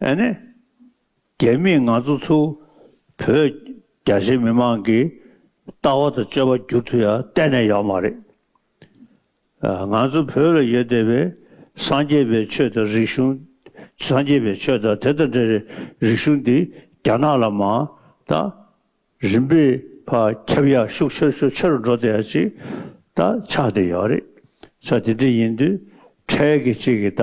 ཨ་ནེ། རྒྱ་མིས་ང་ཚོ་ཚོ་བོད་རྒྱ་ཆེ་མི་མང་གི་ལྟ་བ་དང་སྤྱོད་པ་བསྒྱུར་ཐུབ་ཡ་གཏན་ནས་ཡོད་མ་རེད། ང་ཚོ་བོད་ལ་ཡོད་བསྡད་པའི་སངས་རྒྱས་པའི་ཆོས་དང་རིག་གཞུང་སངས་རྒྱས་པའི་ཆོས་དང་དེ་དང་འདྲ་རིག་གཞུང་འདི་རྒྱ་ནག་ལ་མ་ད་རིམ་པས་ཕ་ཁྱབ་ཡ་ཤུགས་ཆེར་ཆོ་ཆེ་རུ་འགྲོ་བསྡད་ཡ་ཅིག་ད་ཆགས་བསྡད་ཡོད་རེད། ཆ་དེ་འདྲ་ཡིན་དུས་འཕྲལ་གྱི་ཅིག་གི་ད་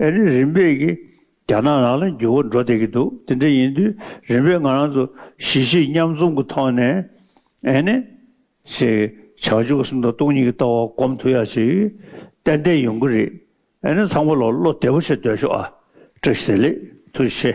ཨ་རིའི་རིམ་པས་ཀྱིས་རྒྱ་ནག་ནང་ལ་འགྱུར་བ་འགྲོ་བསྡད་ཀྱི་འདུག་དེ་འདྲ་ཡིན་དུས་རིམ་པས་ང་རང་ཚོ་གཞིས་བྱེས་མཉམ་འཛོམས་ཀྱི་ཐོག་ནས་ཨེ་ནས་ཞེས་བྱ་བཅུ་ག་སུམ་སྟོང་སྟོང་གཉིས་ཀྱི་ལྟ་བ་སྒོམ་ཐུབ་ཡ་ཞིག་ཏན་ཏན་ཡོང་གི་རེད་ཨེ་ནས་ཚང་མ་ལ་བློ་བདེ་པོ་བྱེད་སྡོད་ཤོག་ཨ། བཀྲ་ཤིས་བདེ་ལེགས་ཐུགས་རྗེ་ཆེ།